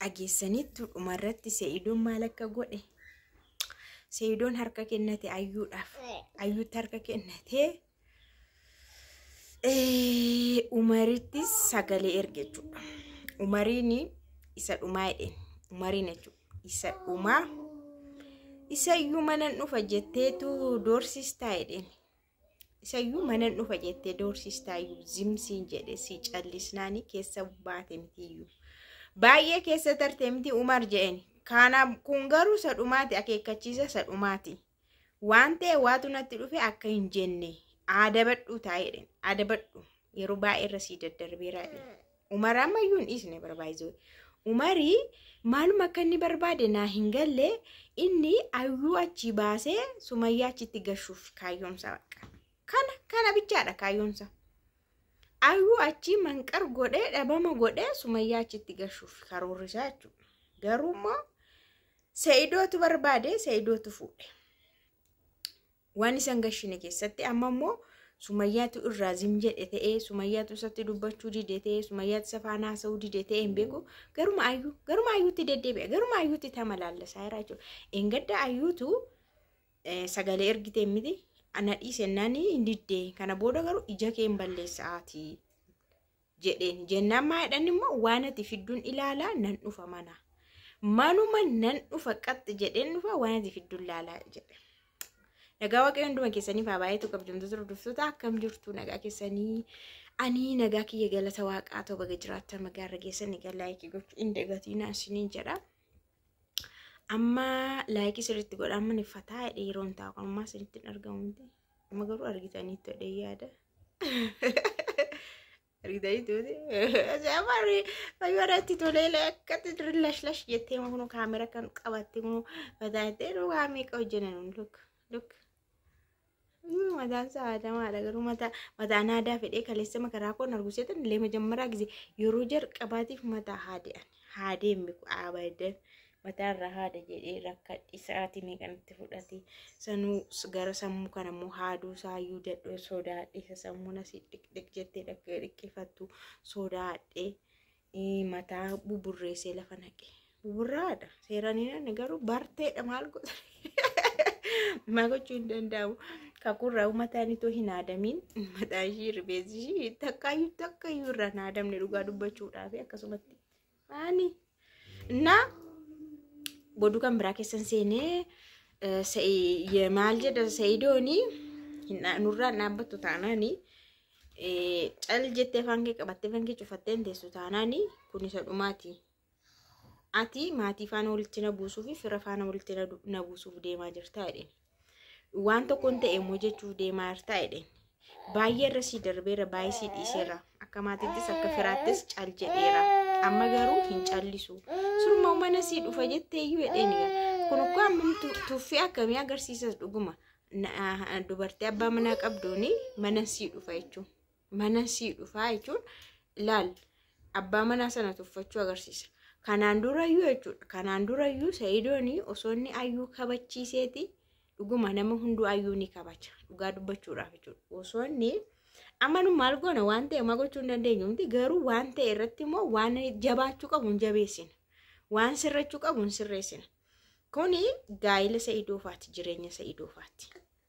dhageessaniittu dhumarratti see'idoon maal akka godhe see'idoon harka kennate ayyuudhaaf ayyuutti harka kennate umarittis sagalee erge jechuudha umariin isa dhumaa jedheen umariin jechuudha isa dhumaa isa iyyuu manan dhufa jetteetu doorsistaa jedheen isayyuu manan dhufa jettee doorsistaayyuu zimsiin jedhe si callisnaani keessa baate mitiyyuu baay'ee keessa tarte miti umar je'en kaana kun garuu sadhumaati akeekkachiisa sadhumaati waan ta'e waatu natti dhufe akka hin jenne aadabadhuu taa'edhen aadabadhu yeroo baay'ee irra sii daddarbeeraa jedhe Umar ammayyuu hin dhiisne bara baay'isuu. Umari maaluma akka inni barbaade naa hin galle inni ayyuu achii baasee sumayyaa achitti gashuuf kaayyoomsa baqa. Kana kana bichaadha kaayyoomsa. Ayyuu achii manqar godhee dhabama godhee sumayyaa achitti gashuuf karoorri isaa jechuudha. Garuu immoo se'idootu barbaade se'idootu fuudhe. Waan isan gashine keessatti amma immoo sumayyaatu irraa zim jedhe ta'ee sumayyaatu isatti dubbachuu dide ta'ee sumayyaatu isa faana haasa'uu dide ta'ee hin beeku garuma ayyuu garuma ayyuutti deddeebi'a garuma ayyuutti tama laallasaa jira jechuudha. Engadda ayyuutu eh, sagalee ergitee miti ana dhiise naani hin diddee kana booda garuu ija kee hin balleessa'aatii jedheen jennaan maa jedhan immoo waan ati fidduun ilaalaa nan dhufa mana manuma nan dhufa qaxxi jedheen dhufa waan ati fidduun ilaalaa jedhe. Nagaa waaqayyo hunduma keessaniif haa baay'atu kabajamtoota hordoftoota akkam jirtu nagaa keessanii ani nagaa kiyya galata waaqaa ta'u baga jiraattan nagaa irra geessan egaa laayikii gochuu hin dagatiinaa isiniin jedha. Amma laayikii sirriitti godhaa maniffataa yeroon taa'u ammaa sirriitti hin argamu. Amma garuu argitaniittu jedhee yaada. Argitaniittu ajaa'ibaa fayyoo irratti tolee akkatti dirri lash lash jettee moo kunuu kaamera kan qabatte moo mataa jettee nu waa meeqa hojjenan nu luk luk. Mataan isaa aadamaadha garuu mataa mataan aadaa fedhee kaleessa makaraa koon arguseetan illee majammaraa gise yeroo jalqabaatiif mataa haadee haadee miku abadan mataarra haada jedhee rakkadhe sa'aatii meeqan itti fudhate sanuu s- gara sammuu kana immoo haaduu saayyuu dadhoo sodaadhe isa sammuun asii dhiqdhiq jettee dhaq- dhiqqifattu sodaadhe eh, mataa buburreessee lafa naqe buburraadha seeraan hin aanne garuu barteedha maal godha maa gochuu hin danda'amu kakurraa mataan itoo hin haadamiin mataa ishii rifeensi ishii takkaayyuu takkaayyuu irraa hin haadamne dhugaa dubbachuudhaaf akkasumatti Ani na goduu kan biraa keessan seenee eh, Sa'i- ye- maal jedha sa'idooni hin dha- nurraan dhaabbattu taanaani eh, cal jettee afaan kee qabattee afaan kee cufattee hin teessu taanaani kun isa dhumaati. Ati maatii faana walitti na buusuu fi fira faana walitti na du- na buusuuf deemaa jirta jedheen. waan tokkoon ta'e immoo jechuuf deemaa jirtaa jedheen. Baay'ee irra sii darbeera baay'ee sii dhiiseera akka maatiittis akka firaattis cal jedheera amma garuu hin callisu surma mana sii dhufa jettee iyyuu jedheen egaa kun ukkoo ammam tu- tuffii akkamii agarsiisas dhuguma Na- dubartii abbaa manaa qabduuni mana sii dhufa jechuun. mana sii dhufaa jechuun laal abbaa manaa sana tuffachuu agarsiisa. Kanaan durayyuu jechuudha. Kanaan durayyuu Sa'idoon osoo inni ayyuu kabachiiseeti dhuguma nama hunduu ayyuu ni kabaja. Dhugaa dubbachuudhaaf jechuudha. Osoo inni amma nu maal goona waan ta'e homaa gochuu hin dandeenyu miti garuu waan ta'e irratti immoo waan jabaachuu qabu hin jabeessina. Waan sirrachuu qabu hin sirreessina. Kuni gaa'ila Sa'idoofaati jireenya Sa'idoofaati.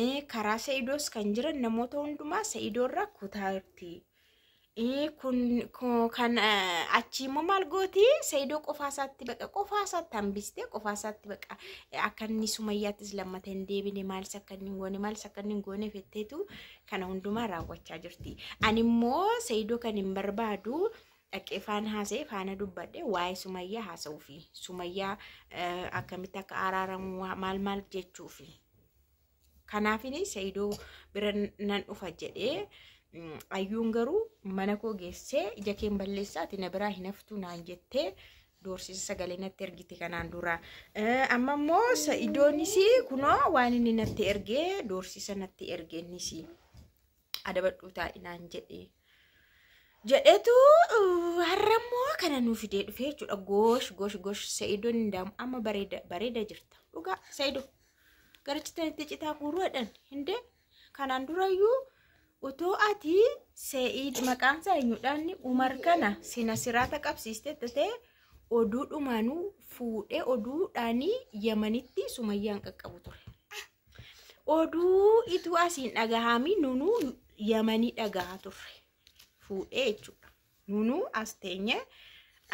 Ee, karaa sa'idoos kan jiran namoota hundumaa sa'idoo irraa kutaa jirti. Ee, kun ko- kan eh, achii immoo maal gooti sa'idoo qofaa isaatti baqa qofaa isaatti hambistee qofaa isaatti baqa eh, akka inni sumayyaattis lammata hin deebine maalis akka inni hin goone maalis akka inni hin goone fetteetu kana hundumaa raawwachaa jirti. Ani immoo sa'idoo kan hin barbaadu dhaqee faan haasa'e faana dubbadhe waa'ee sumayyaa haasa'uufi sumayyaa eh, akkamitti akka araaramu waa- maal maal jechuufi kanaafin sa'idoo bira nan dhufa jedhee mm, ayyuun garuu mana koo geessee ija keen balleessaati na biraa hin haftu naan jettee doorsisa sagalee natti ergite kanaan dura Eh, amma immoo sa'idoonis kunoo waan inni natti ergee doorsisa natti ergeennis adabadhuu taa'i naan jedhee. jedhetu har'a immoo kana nu fidee dhufee jechuudha goosh goosh goosh sa'idoon hin daamu amma bareeda bareeda jirta dhugaa sa'ido garichitan itti citaa guuruudhaan hindee kanaan durayyuu otoo ati sa'id maqaan isaa eenyudhaan umar kana sina siraata qabsiiste tatee oduu dhumaanuu fuudhee oduudhaanii yamanitti sumayyaan qaqqabu ture. Oduu ituu asiin dhagahaami nunuu yamanii dhagahaa turre fuudhee jechuudha. Nunuu as teenye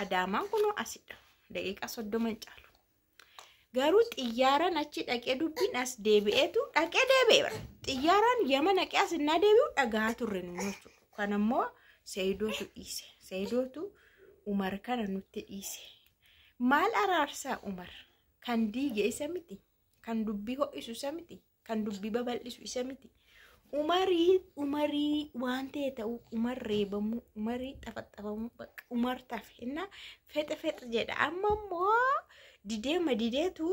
adaamaan kunoo asidha. Daqiiqaa soddoma hin caalu. Garuu xiyyaaraan achi dhaqee dubbiin as deebi'eetu dhaqee deebi'e bara. Xiyyaaraan yama naqee as innaa deebi'u dhagahaa turre nunuu jechuudha. Kan ammoo Seeyidootu dhiise. Seeyidootu Umar kana nutti dhiise. Maal araarsaa Umar kan diige isa miti. Kan dubbii ho'isu isa miti. Kan dubbii babal'isu isa miti. Umarii umarii waan ta'e ta'u umar reebamuu umarii xafaxafamuu bakka umar tafe innaa fexe fexe jedha amma immoo dideema dideetu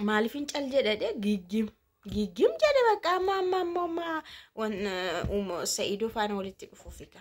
maaliifin cal jedha dhe giggim giggim jedha bakka amma amma amma amma wan- uh, um, sa'idoo faana walitti dhufuufi ka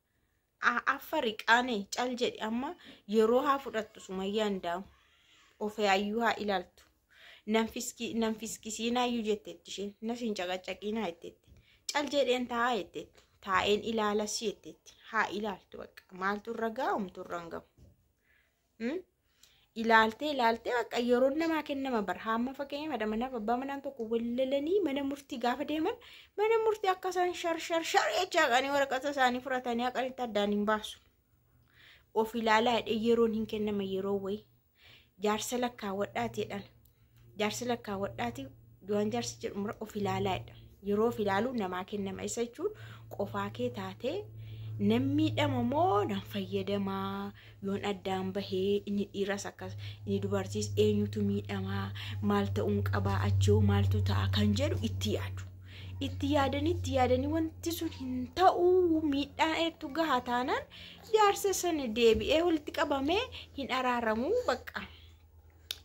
A- affari qaane cal jedhi amma yeroo haa fudhattu sumayyaan daa'u ofee ayyuu haa ilaaltu nan fiski- nan fiskisiinaa iyyuu jetteetti isheen nas hin caqacaqiinaa jetteetti cal jedheen taa'aa jetteetti taa'een ilaalas jetteetti haa ilaaltu bakka maaltu irra gaa'umtu irra hin ga'u ilaaltee ilaaltee bakka yeroon namaa kennama bara hamma fakkeenya madha manaaf abbaa manaan tokko wallalanii mana murtii gaafa deeman mana murtii akka isaan shar shar shar jechaa qanii waraqata isaanii fudhatanii haqanitti addaan hin baasu. Of ilaalaa jedhee yeroon hin kennama yeroo wayii jaarsa lakkaawwadhaa jedhan Jaarsi lakkaawwadhaati waan jaarsi jedhu mura of ilaalaa jedha. Yeroo of ilaaluu namaa kennama isa jechuun qofaa kee taatee nan miidhama moo nan fayyadamaa yoon addaan bahee inni dhiiras akkas inni dubartiis eenyutu miidhamaa maal ta'uun qabaa achoo maaltu ta'a kan jedhu itti yaadu. Itti yaadanii itti yaadanii wanti sun hin ta'uu miidhaan eegtu gahaa taanaan jaarsa sana deebi'ee walitti qabamee hin araaramuu bakka.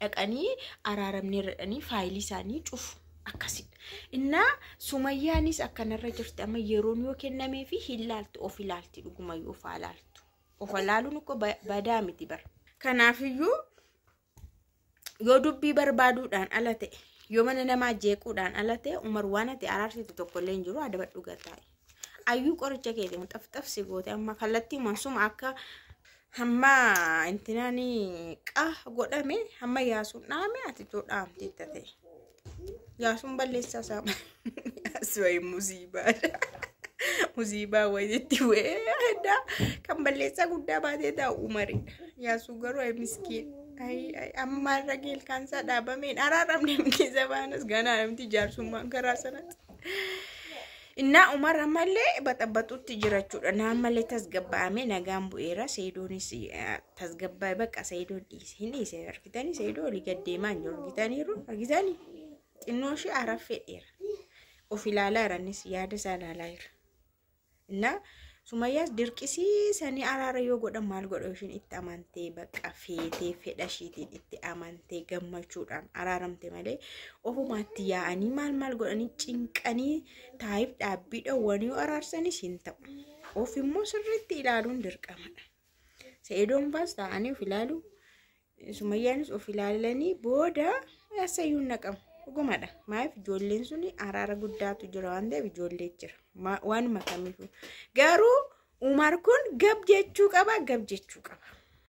dhaqanii araaramneerra jedhanii faayilii isaanii cufu. Akkasidha. Innaa sumayyaanis akkanarra jirti amma yeroon yoo kennamee fi hin laaltu of ilaalti dhuguma yoo ofaa laaltu. Ofa laaluun uko badaa miti bara. Kanaafiyyuu yoo dubbii barbaaduudhaan ala ta'e yoo mana namaa jeequudhaan ala ta'e umar waan ati araarsitu tokko illee hin jiru adabadhu gataa. Ayyuu qoricha keetiin xafxafsi goote amma kallattii mansuma akka hamma intinaan qa godhame hamma yaasuun dhaame ati too dhaamte tate. Yaasuun balleessaa isaa yaasuun musiibaadha. Musiibaa wayititti weedha. Kan balleessaa guddaa baatee taa'u umaridha. Yaasuu garuu ay miskiin. Ay ay amma irra geel kaansaa dhaabameen araaramne miti zabaanas ganaa namti jaarsummaan karaa sanatti. Innaa Umar ammallee baxabaxutti jira jechuudha. Naa ammallee tasgabbaa'amee nagaan bu'eera. Seedoonis eh, tasgabbaa'e bakka seedoon dhiise. Hin dhiise argitanii seedoo olii gad deemaa hin jiru argitaniiru argitanii xinnoo ishee araffee dheera. Of ilaalaa jiranis yaada isaa ilaalaa jira. Innaa Sumayyaas dirqisiisanii araara yoo godhan maal godha ishiin itti amantee bakka feetee fedha ishiitiin itti amantee gammachuudhaan araaramte malee ofumaatti yaa'anii maal maal godhanii cinqanii taa'if dhaabbiidha wanii araarsanis hin ta'u. Of immoo sirriitti ilaaluun dirqamadha. Seedoon baas taa'anii of ilaalu Sumayyaanis of ilaalanii booda eessayyuu hin dhaqamu. Dhugumadha. Maaf ijoolleen sun araara guddaatu jira waan ta'eef ijoollee jira. Ma- Waanuma kamiifuu. Garuu Umar kun gab jechuu qaba gab jechuu qaba.